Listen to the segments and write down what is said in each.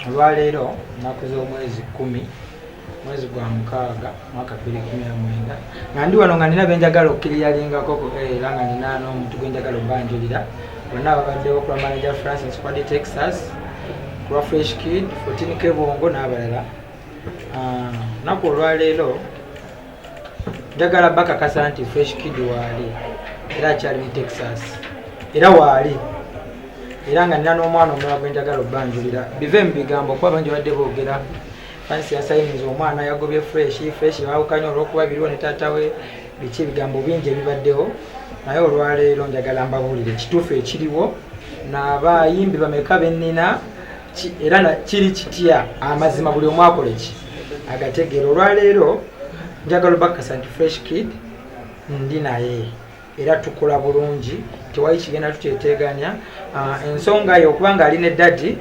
olwaleero nnaku z'omwezi kkumi mwezi gwa mukaaga mwaka bbiri kumi na mwenda nga ndi wano nga nina benjagala okukiriyalingako eh, era nga nina n'omuntu gwenjagala obanjulira bonna babaddewo kulwa manager francis kwadi texas kulwa fresh kid fotin kebongo n'abalala ah, naku olwaleero njagala bakakasa nti fresh kid waali era akyali mu texas era waali era nga nina n'omwana omulala gwenjagala obanjulira bive mu bigambo kuba bangi badde boogera fansi yasayiniza omwana yagobye fresh fresh bawukanye olwokuba biriwo ne taata we biki ebigambo bingi ebibaddewo naye olwaleero njagala mbabuulire ekituufu ekiriwo nabayimbi bameka benina era kiri kitya amazima buli omu akole ki agategeera olwaleero njagala obakasa nti fresh kid ndi naye era tukola bulungi tewali kigenda tukyeteeganya ah, ensonga ye okuba nga ali ne dadi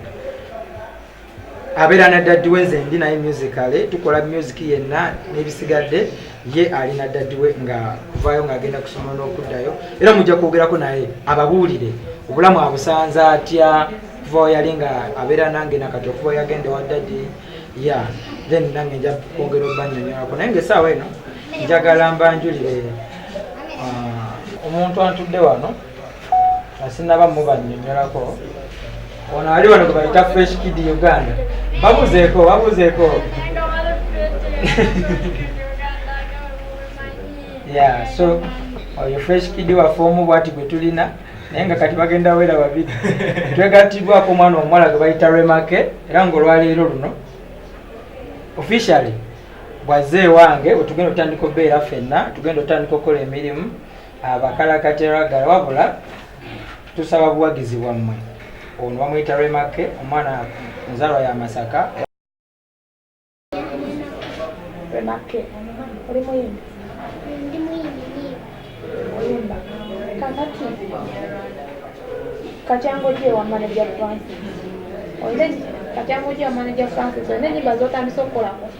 abeera na daddi we nze ndi naye musicale tukola music yenna n'ebisigadde ye ali na daddi we nga kuvaayo ng'agenda kusoma n'okuddayo era mujja kwogerako naye ababuulire obulamu abusanze atya kuva weyali nga abeera nange nakati okuva yagenda wa daddi ya then nange nja kwongera obanyonyolako naye nga esaawa eno njagala mbanjulire uh, omuntu antudde wano asinaba mubanyonyolako ono ali wano gwebayita fresh kid uganda babuzeeko babuzeeko ya so oyo fresh kid waffe omu bwati gwe tulina naye nga kati bagenda wera babiri twegatibwako omwana omuwala gwe bayita remake era ngaolwaleero luno officially bwazze ewange wetugenda otandika obeera fenna tugenda otandika okukola emirimu abakalakati ragala wabula tusaba buwagizi bwammwe ono bamuyita remakke omwana nzalwa ya masaka remakke oli muyimbi ndi muyimbi oyimba kakati katyango gye wa manaja francis katyango gye wa manaja francis olina enyimba zotandisa okukolako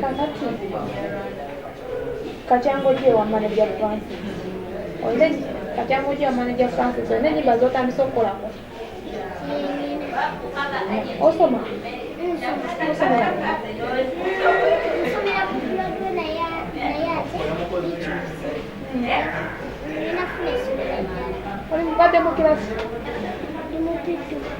kakati katyango gye wa manager francis olina katyango gye wa manager francis olina enyimba zotandisa okukolako osoma oli mubadde mu kirasi